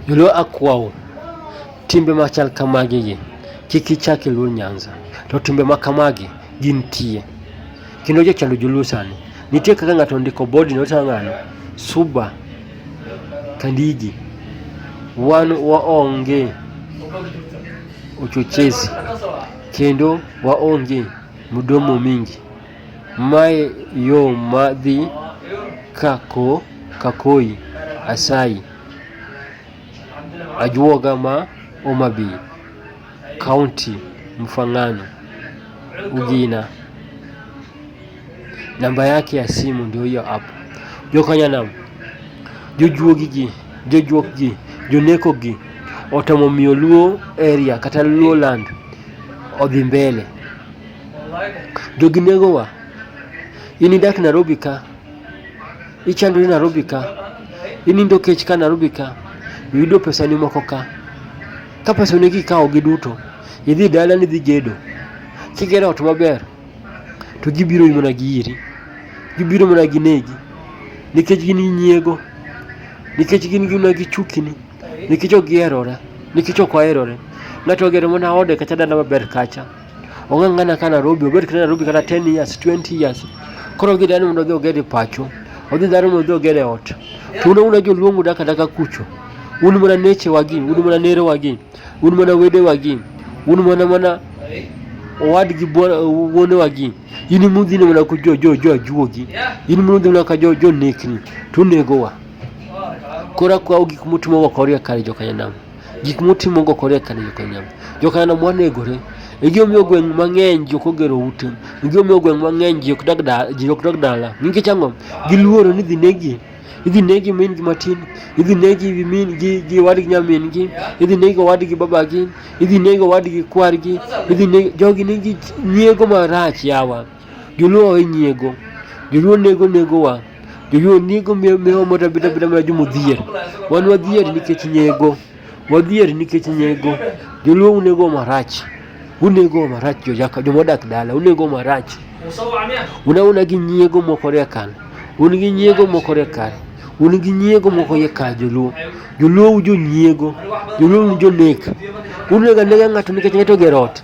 Joluo akwau, timbe machal kamagi gi kik ichak iluor Nyanza. To timbe ma kamagi gintie. Kendo jochando joluo sani. Nitie kaka ng'ato ondiko body note kaka ng'ano, Suba Kandigi. Wan waonge uchochezi kendo waonge mdomo mingi. Mae yo madhi kako kakoi asayi. Ajuoga ma Homa Bay County Mfangano Ugina. Namba yake ya simu ndio hiyo hapo. Jokanya nam jojuogi gi jojuok gi joneko gi otemo miyo Luo area kata Luo land odhi mbele. Jogi negowa in idak Nairobi ka Ichando ni Nairobi ka, inindo kech ka Nairobi ka, iyudo pesani moko ka. Ka pesani kikawo gi duto, idhi dala ni idhi gedo. Kigero ot maber, to gibiro mana gi iri. Gibiro mana gi negi. Nikech gin gi nyiego. Nikech gin gina gi chukini. Nikech ok giherore. Nikech ok oherore. Ng'ato ogero mana ode kacha dala maber kacha. ong'ang'ana ka Nairobi, obed kata Nairobi kata 10 years, 20 years. Koro odhi dani mondo odhi ogere pacho, odhi dani mondo odhi ogere ot. To un una joluongu daka daka kucho. Un mana neche wagi, un mana nere wagi, un mana wede wagi, un mana mana owadgi wuone wagi. In imudhi mana ku jo jo jo ajuogi. In imudhi mana ka jo jo nekni. To unegowa. Koro akwa gik mutimo wakoria kare jo kanyanam. gik mutimo go kore kane jokanam jokanam wanegore igi omiyo gweng' mang'eny ji ok ogero ute igi omiyo gweng' mang'eny ji ok dag da- ji ok dag dala nikech ang'o giluoro ni dhi negi idhi negi min gi matin idhi negi gi min gi gi owadgi nyamin gi idhi negi owadgi babagi idhi negi owadgi kwargi idhi negi jogi nigi nyiego marach yawa Joluo owe nyiego. Joluo nego nego wa. Joluo nego miyo miyo mota bita bita ma jomo dhier. Wan wadhier nikech nyego. Wadhier nikech nyego. Joluo unego marach. Unego marach jojaka joma odak dala. Unego marach. Una una gi nyiego moko ria kan. Un gi nyiego moko ria kan. Un gi nyiego moko ye ka joluo. Joluo ujo nyiego. Joluo ujo nek. Unega nega ng'ato nikech ng'ato ogero ot.